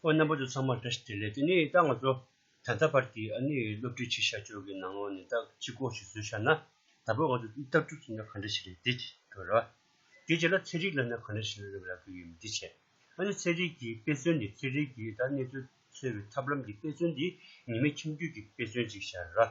ཨོ་རྣམ་པ་ཚོ་ཚང་མར་བཀྲ་ཤིས་བདེ་ལེགས་དེ་ནི་ད་ང་ཚོ་ད་ལྟ་བར་གྱི་ཨ་ནི་སློབ་ཁྲིད་བྱེད་བཞག་ཕྱོགས་ཀྱི་ནང་ལོགས་ནས་ད་ཅི་གོ་ཞིག་བཟོས་བཞག་ན་ད་བོད་ང་ཚོ་འདི་ལྟར་གྲུབ་ཟིན་ན་ག་འདྲ་ཞིག་རེད་འདི་ཅེས་རེད་བ། དེའི་རྗེས་ལ་ཚན་རིག་ལབ་ན་ག་འདྲ་ཞིག་རེད་རེད་གི་ཡོད་མི་འདི་བྱས། ཨ་ནི་ཚན་རིག་གིས་དཔེ་མཚོན་འདི་ཚན་རིག་གིས་ད་གནས་ཚུལ་འཚོལ་བའི་ཐབས་ལམ་གྱི་དཔེ་མཚོན་འདི་ཉི་མའི་ཁྱིམ་རྒྱུད་ཀྱི་དཔེ་མཚོན་ཅིག་བཞག་རེད་བ།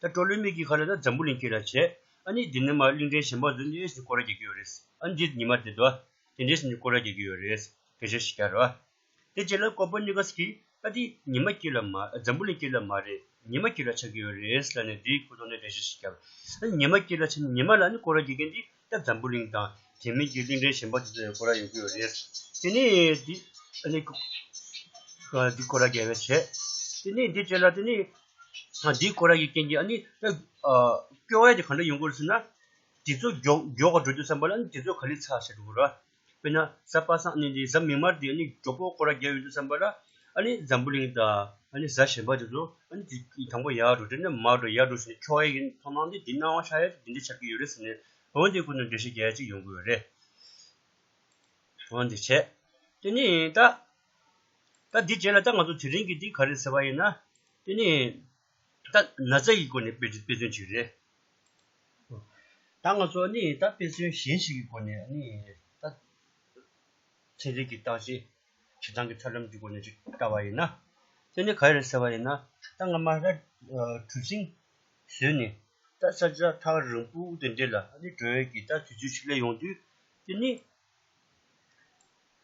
ད་སྤྲོ་ལོའི་མིག་གིས་ཁ་ལོ་ད་འཛམ་བུ་གླིང་ཁྱོད་ལ་བྱས། ཨ་ནི་འདི་ནི་མ་གླིང་ཕྲན་གཞན་བག་ཟོས་འདི་ཨེ་ཟིན་ཀོ་ར་རྒྱག་གི་ཡོད་རེད། ཨ་འདི་ཉི་མ་འདི་ཟླ་བ་དེ་འདྲས་ཟིན་འདི་ཀོ་ར་རྒྱག་གི་ཡོད་རེད། སྐད་ཆ་ཞིག་རྒྱག་རོགས། དེ་རྗེས་ལ་ཀོ་པོ་ནི་ཀཱས་ཀྱིས་ཨ་འདི་ཉི་མ་ཁྱོད་ལ་མ་འཛམ་བུ་གླིང་ཁྱོད་ལ་མ་རེད་ཉི་མ་ཁྱོད་ལ་ཆགས་ཀྱི་ཡོད་རེད་ལ་ནི་དེའི་ཁུ་ཚོར་ནས་སྐད་ཆ་ཞིག་རྒྱག། ཨ་ནི་ཉི་མ་ཁྱོད་ལ་ཆགས་ནས་ཉི་མ་ལ་ནི་ཀོ་ར་རྒྱག་མཁན་འདི་སྐྱ་འཛམ་བུ་གླིང་དང་དེ་མིན་གྱི་གླིང་ཕྲན་གཞན་པ་དེ་ཚོ་ཡང་སྐོར་ར་ཡོང་གི་ཡོད་རེད། དེ་ནི། འདི་སྐོར་ར་རྒྱལ་བས་བྱས། དེ་ནི་འདི་བྱས་ལ་དེ་ནི། འདི་སྐོར་ར་ཡི་རྐྱེན་གྱིས་ཨ་ནི། སྐྱོ་བ་ཡ་དེ་གང་འདྲ་ཡོང་གི་ཡོད་ཟེར་ན། དེ་ཚོ་མགྱོགས་མགྱོགས་འགྲོ་རྒྱུ་བསམ་པ་ལ་ཨ་ནི་དེ་ཚོ་ག་ལེར་ཚ་ཟེར་འགྲོ་གི་རེད། དཔེར་ན་གཟའ་པ་སངས་གནས་འདི་གཟའ་མིག་དམར་འདི་ནི་གྲོགས་པོ་ཁོ་ར་བརྒྱ་ཡོད་འདུག་བསམ་པ་ལ། ཨ་ནི་འཛམ་བུ་གླིང་དང་ཨ་ནི་གཟའ་གཞན་པ་དེ་ཚོ་ཨ་ནི་དེ་དང་པོ་ཡར་འགྲོ་དེ་ནས་མར་འགྲོ་ཡར་འགྲོ་ཞེས་ནས་ཁྱོ་ཨེ་ཡིན་མཐོང་སྣང་འདི་འདི་སྣང་བ་ཤ་ཡ་དེ་འདི་འདྲ་ཆགས་ཀྱི་ཡོད་རེད་ཟེར་ནས་འོན་ཏེ་ཁོ་ནི་འགྲེལ་བཤད་རྒྱ་ཡ་གཅིག་ཡོང་དགོས་རེད། འོན་ཏེ་བྱས། དེ་ནི་ད། ད་འདི་བྱས་ལ་ད་ང་ཚོ་དེ་རིང་གི་འདི་ག་རེད་ཟེར་བ་ཡིན་ན། དེ་ནི། ད་ན་ཚ་ཡི་སྒོ་ནས་དཔེ་དཔེ་མཚོན་ཞིག་རེད། ད་ང་ཚོ་ནི་ད་དཔེ་མཚོན་གཞན་ཞིག་གི་སྒོ་ནས་ནི་ད་ཚན་རིག་གི་རྟགས་ཅན་བྱེ་ཐང་གི་ཐབས་ལམ་གྱི་སྒོ་ནས་ཅིག་བལྟ་བ་ཡིན་ན། དེ་ནི་ག་རེ་ཟེར་བ་ཡིན་ན་ད་ང་མ་ར་གྲུ་གཟིངས་བཟོས་ནས་ད་ས་ཆ་ཐག་རིང་པོ་དེ་འདྲེ་ལ་ནི་བགྲོད་ཡོད་ཀྱི་ད་དུས་ཚོད་ཅིག་སླེབས་ཡོང་དུས་དེ་ནི་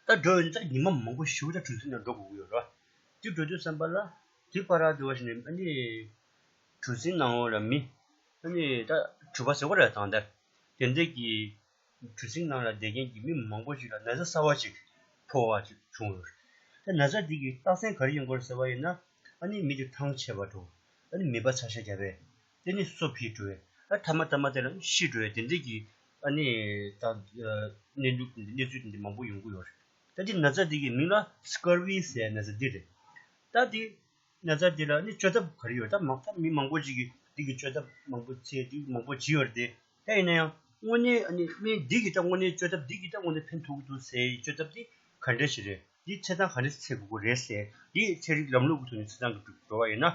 ད་འགྲོ་འོན་ཙང་ཉིན་མ་མང་པོ་ཞུགས་ད་གྲོས་མཐུན་ནང་འགྲོ་དགོས་ཀྱི་ཡོད་རེད། དེ་འགྲོ་དུས་བསམ་པ་ལ། དེ་ཕ་རག་དེ་བ་ཞིག་ནས་ཨ་ནི། གྲུ་གཟིངས་ནང་འོག་ལ་མི། ཨ་ནི་ད་གྲུ་པ་ཟེར་བ་རེད་དང། དེ་འདྲས་ཀྱི། གྲུ་གཟིངས་ནང་ལ་བསྡད་མཁན་གྱི་མི་མང་པོ་ཞིག་ལ་ན་བཟའ་གསར་བ་ཞིག་ཕོག་བ་ཅིག་བྱུང་ཡོད་རེད། ད་ན་བཟའ་དེ་གི་རྟགས་མཚན་ག་རེ་ཡིན་སྐོར་ཟེར་བ་ཡིན་ན། ཨ་ནི་མི་དེ་ཐང་ཆད་པ་འགྲོ། ཨ་ནི་མིད་པ་ཚ་ཤ་རྒྱབ་པས། དེ་ནི་སོ་བྷི་དྲོའི། ཨ་དྷ་མ་ཏཱ་མ་ཏཱི་ལ་ཤི་དྲོའི་དེ་འདྲས་ཀྱི། ཨ་ནི། དང། གནས་འགྱུར་གྱི་གནས་ཚུལ་དེ་འདྲས་མང་པོ་ཡོང་གི་ཡོད་རེད། ད་དེ་ན་ཚ་དེ་གི་མིང་ལ Scurvy ཟས་ན་ཚ་འདི་རེད། ད་དེ། ན་ཚ་དེ་ལ་ནི་བཅོས་ཐབས་ག་རེ་ཡོད་ད་མང་མི་མང་པོ་ཅིག་གིས་དེ་གི་བཅོས་ཐབས་མང་པོ་ཚེ་འདི་མང་པོ་བྱས་ཡོད་རེད་དེ། ད་ཡིན་ན་ཡང་དངོས་གནས་ཨ་ནི་སྨན་འདི་གི་ད་དངོས་གནས་བཅོས་ཐབས་འདི་གི་ད་དངོས་གནས་ཕན་ཐོག་གི་འདུག་ཟས་ཡི་བཅོས་ཐབས་དེ་ག་འདྲས་ཞིག་རེད་དེ་ཚེ་ཐང་ག་འདྲས་ཚེ་དགོས་ཀྱི་རེད་ཟས་དེ་ཚེ་རིགས་ལམ་ལུགས་ཀྱི་ཐོག་ནས་ཚེ་ཐང་གི་འགྲོ་བ་ཡིན་ན།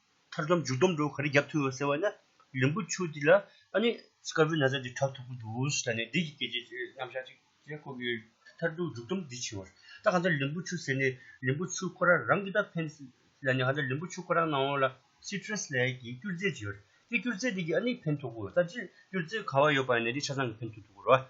མཐར་སྡོམ་འཇུག་སྡོམ་འགྲོ་ག་རེ་རྒྱབ་ཐུབ་ཡོད་ཟེར་བ་ནི་ལིམ་བུ་ཆུ་འདི་ལ་ཨ་ནི་སྐར་བུའི་ན་བཟའ་འདི་གྲགས་ཐུབ་ཀྱི་འདུག་ཟེར་ནས་བདེ་སྐྱིད་སྐད་ཆའི་རྣམ་གཞག་ཅིག་ཅེས་བཀོད་ཀྱི་ཡོད། མཐར་སྡོམ་འཇུག་སྡོམ་འདི་བྱིན་བར་ད་གང་ལྟར་ལིམ་བུ་ཆུ་ཟེར་ནས་ལིམ་བུ་ཆུ་ཁོ་རང་རང་གིས་ད་ཕན་སྲིད་ལ་ནི་གང་ལྟར་ལིམ་བུ་ཆུ་ཁོ་རང་ནང་འོག་ལ Citrus ལའི་གྱི་སྐྱུར་རྫས་བྱིན་ཡོད། དེ་སྐྱུར་རྫས་འདི་གྱིས་ཨ་ནི་ཕན་ཐོགས་ཀྱི་ཡོད་ད་ཅིར་སྐྱུར་རྫས་གང་བ་ཡོད་པ་ཡིན་ན་དེ་ཆ་ཚང་གིས་ཕན་ཐོགས་ཐུབ་ཀྱི་རེད།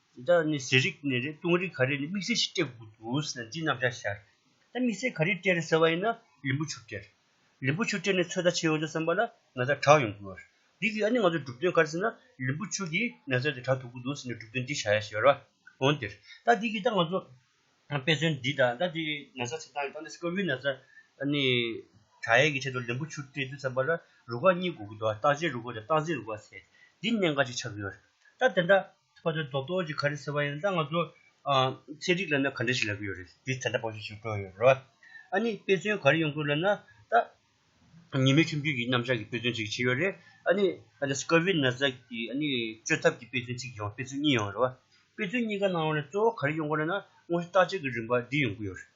འདི་དག་ནི་ཟས་རིགས་ནས་རེད་བཏུང་རིགས་ག་རེ་ནི་དམིགས་བསལ་ཞིག་སྤྲད་དགོས་འདུག་ཟེར་ན་འདི་རྣམས་བཞག་ཤར། ད་དམིགས་བསལ་ག་རེ་སྤྲད་ཟེར་བ་ཡིན་ན་ལིམ་བུ་ཆུ་སྤྲད། ལིམ་བུ་ཆུ་སྤྲད་ནས་ཚོད་ལྟ་བྱེད་ཡོང་ཆོག་བསམ་པ་ལ་ང་ཚ་གྲགས་ཡོང་དགོས། འདི་གིས་ཨ་ནི་ང་ཚོའི་གྲུབ་དོན་ག་རེ་ཟེར་ན་ལིམ་བུ་ཆུ་གིས་ནད་ཚ་དེ་དྲག་ཐུབ་ཀི་འདུག་ཟེར་ནས་གྲུབ་དོན་འདི་བྱ་ཡ་ཞེས་པ་རེད། འོན་ཏེ། ད་འདི་གིས་ད་ང་ཚོ་དཔེ་མཚོན་འདི་དང་ད་འདི་ནད་ཚ་ཚེ་ཐང་གི་སྟེང་ནས་སྐབས་རེ་ནད་ཚ་ཨ་ནི་དྲག་ཡས་ཀྱི་ཆེད་དུ་ལིམ་བུ་ཆུ་སྤྲད་དུས་བསམ་པ་ལ་རུ་ཁག་གཉིས་དགོས་ཀི་འདུག་བརྟག་དཔྱད་རུ་ཁག་དང་བརྟག་འཛིན་རུ་ཁག་ཟེར་འདི་གནད་འགག་ཅིག་ཆགས་ཀི་ཡོད། ད་དེ་འདྲ་ཁོ་ཚོས་རྡོག་རྡོག་ཅིག་ག་རེ་ཟེར་བ་ཡིན་ད་ང་ཚོ་ཚན་རིག་ལ་ན་ག་འདྲ་ཞིག་ལབ་ཀྱི་ཡོད་རེད་འདི་ད་ལྟ་བོད་ཤོད་ཤོད་སྤྲོ་ཡོད་རེད་བ། ཨ་ནི་དཔེ་མཚོན་ག་རེ་ཡོང་དགོས་ལབ་ན་ད་ཉི་མའི་ཁྱིམ་རྒྱུད་ཀྱི་རྣམ་གཞག་གི་དཔེ་མཚོན་ཅིག་བྱས་ཡོད་རེད་ཨ་ནི་ཨ་ནི Scurvy ན་བཟའ་ཀྱི་ཨ་ནི་བཅོས་ཐབས་ཀྱི་དཔེ་མཚོན་ཅིག་ཡོང་དཔེ་མཚོན་གཉིས་ཡོང་རེད་བ། དཔེ་མཚོན་གཉིས་ཀ་ནང་ནས་གཙོ་བོ་ག་རེ་ཡོང་དགོས་ལབ་ན་དངོས་གཞི་བརྟག་དཔྱད་ཀྱི་རིམ་པ་འདི་ཡོང་དགོས་ཡོད་རེད།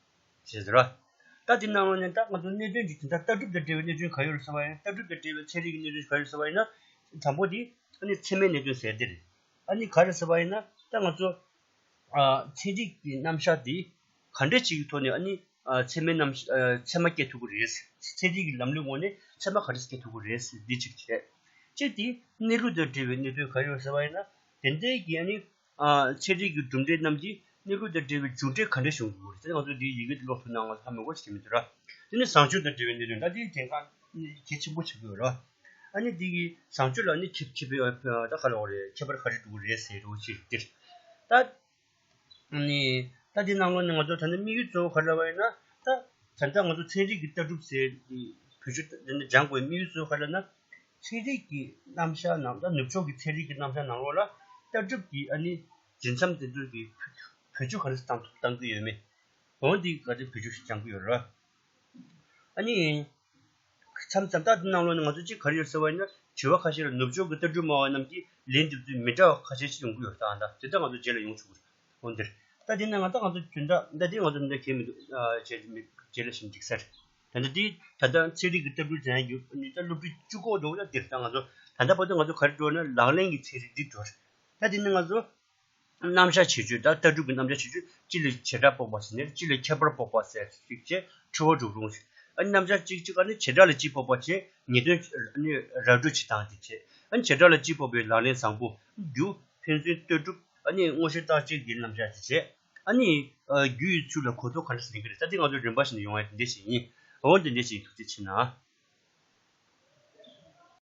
ཞེས་ཟེར། ལྟ་དེ་སྣང་ངོ་ནས་ལྟ་ང་ཚོ་གནད་དོན་གྱི་དེ་ལྟར་ལྟ་གྲུབ་དང་འབྲེལ་བའི་གནད་དོན་ག་ཡོད་རེད་ཟེར་བ་ཡིན་ལྟ་གྲུབ་དང་འབྲེལ་བའི་ཚན་རིག་གི་གནད་དོན་ག་ཡོད་ཟེར་བ་ཡིན་ན། དང་པོ་དེ། ཨ་ནི་ཚད་མའི་གནད་དོན་ཟེར་དེ་རེད། ཨ་ནི་ག་རེད་ཟེར་བ་ཡིན་ན་ལྟ་ང་ཚོ། ཚན་རིག་གི་རྣམ་གཞག་དེ་ག་འདྲ་ཞིག་གི་ཐོག་ནས་ཨ་ནི། ཚད་མའི་རྣམ། ཚད་མ་བསྐྱེད་ཐུབ་ཀྱི་རེད། ཚན་རིག་གི་ལམ་ལུགས་ངོ་ནས་ཚད་མ་ག་རེ་བསྐྱེད་ཐུབ་ཀྱི་རེད་ཟེར་འདི་གཅིག་བྱས། གཅིག་དེ། གནས་ལུགས་དང་འབྲེལ་བའི་གནད་དོན་ག་ཡོད་ཟེར་བ་ཡིན་ན། དེ་འདྲའི་གི་ཨ་ནི། འཆད་ཁྲིད་ཀྱི་གྲུབ་འབྲས་རྣམས་ཀྱིས་གནས་ལུགས་དང་འབྲེལ་བའི་མཇུག་འབྲས་ག་འདྲ་བྱུང་དགོས་རེད་ད་ནི་ང་ཚོས་འདི་ཡི་གེ་འདི་ཀློག་ཐུབ་ནའང་ལྷག་མེད་སྐོར་བཤད་མི་འདོད་ར། དེ་ནི་བཟང་སྤྱོད་དང་འབྲེལ་བའི་གནས་ལུགས་འདྲ་དེའི་དེ་འགངས་གལ་ཆེན་པོ་བྱེད་དགོས་ར། ཨ་ནི་འདི་གིས་བཟང་སྤྱོད་ལ་ནི་ཁྱད་ཁྱད་པའི་ད་ག་ལོག་རེད་ཁྱད་པར་ག་རེ་འདུག་རེད་ཟེར་རོ་ཞེས་ཟེར། ད་ནི་ད་དེ་གནང་ལོ་ནི་ང་ཚོར་ད་ནི་དམིགས་ཡུལ་གཙོ་བོ་ག་རེ་ལ་བ་ཡིན་ན་ད། ད་ལྟ་ང་ཚོ་ཚན་རིག་གི་ལྟ་གྲུབ་ཟེར་བུ་ཆུ་ད་ནི་སྦྱང་དགོས་དམིགས་ཡུལ་གཙོ་བོ་ག་རེ་ལ་ན། ཚན་རིག་གི་རྣམ་གཞག་ནང་ལྟ་ནུབ་ཕྱོགས་ཀྱི་ཚན་རིག་གི་རྣམ་གཞག་ནང་ལོགས་ལ་ལྟ་གྲུབ་ཀྱི་ཨ་ནི་རྫུན་མཚམས་དེ་ཚོའི་གི་བོད་ཆུ་ག་རེ་བཏང་ཐུབ་བཏང་གི་ཡོད་མེད་འོན་ཏེ་ག་རེ་བོད་ཆུ་ཞིག་བཅང་གི་ཡོད་རེད། ཨ་ནི་མཚམས་མཚམས་ལྟ་དེ་ནང་ལོགས་ནས་ང་ཚོ་ཅིག་ག་རེ་ཡོད་ཟེར་བ་ཡིན་ན་དྲི་བ་ཁ་ཤས་ལ་ནུབ་ཕྱོགས་ཀྱི་ལྟ་གྲུབ་སྨྲ་བ་རྣམས་ཀྱིས་ལན་འདེབས་ཚུལ་མི་འདྲ་བ་ཁ་ཤས་ཤིག་ཡོང་གི་ཡོད་རེད་ད་དེ་འདྲ་ང་ཚོ་རྗེས་ལ་ཡོང་ཆོག་གི་རེད་འོན་ཏེ་ལྟ་དེ་ནི་ང་ལྟ་ང་ཚོ་དེ་འདྲ་ལྟ་དེ་ང་ཚོ་འདྲ་གལ་མི་འདུག་རྗེས་ལ་ཞིབ་འཇུག་ཟེར། ད་ལྟ་དེ་ད་ལྟ་ཚན་རིག་གི་ལྟ་སྐུལ་དེ་རྒྱུ་ནི་ད་སློབ་ཕྲུག་བཅུ་གོ་འགྲོ་གོ་ན་དེ་ད་ང་ཚོ་ད་ལྟ་བར་དུ་ང་ཚོ་ག་རེ་འགྲོ་ན་ལག་ལེན་གྱི་ཚན་རིག་འདི་འགྲོ་ད་དེ་ནི་ང་ཚོ་རྣམ་གཞག་བྱེད་སྤྱོད་དང་ལྟ་གྲུབ་ཀྱི་རྣམ་གཞག་བྱེད་སྤྱོད་སྤྱི་ལ་བྱེ་བྲག་དཔོག་པ་ཟེར་ནས་སྤྱི་ལ་ཁྱད་པར་དཔོག་པ་ཟེར་ཞིག་ཅེས་ཁྲོ་བོ་འབྲུག་རུང་ཨ་ནི་རྣམ་གཞག་གཅིག་གཅིག་ག་ནི་བྱེ་བྲག་ལ་སྤྱི་དཔོག་པ་ཆེ་ངེས་དོན་ཨ་ནི་ར་སྤྲོད་བྱེད་སྟངས་དེ་ཆེ་ཨ་ནི་བྱེ་བྲག་ལ་སྤྱི་དཔོག་པའི་ལག་ལེན་བཟང་པོ་རྒྱུ་ཕན་ཚུན་ལྟོས་གྲུབ་ཨ་ནི་དངོས་བཤེར་བརྟག་དཔྱད་ཀྱི་རྣམ་གཞག་དེ་ཆེ། ཨ་ནི། རྒྱུ་ཡི་ཚུལ་ལ་གོ་ཆོད་ག་འདྲ་ཞིག་ཡིན་གྱི་རེད་ས་དེ་ང་ཚོའི་རིམ་པ་བཞིན་དུ་ཡོང་བའི་དེ་འདྲས་ཤིག་ཡིན། འོན་ཏེ་འདྲས་ཤིག་ཐུགས་རྗེ་ཆེ་ན།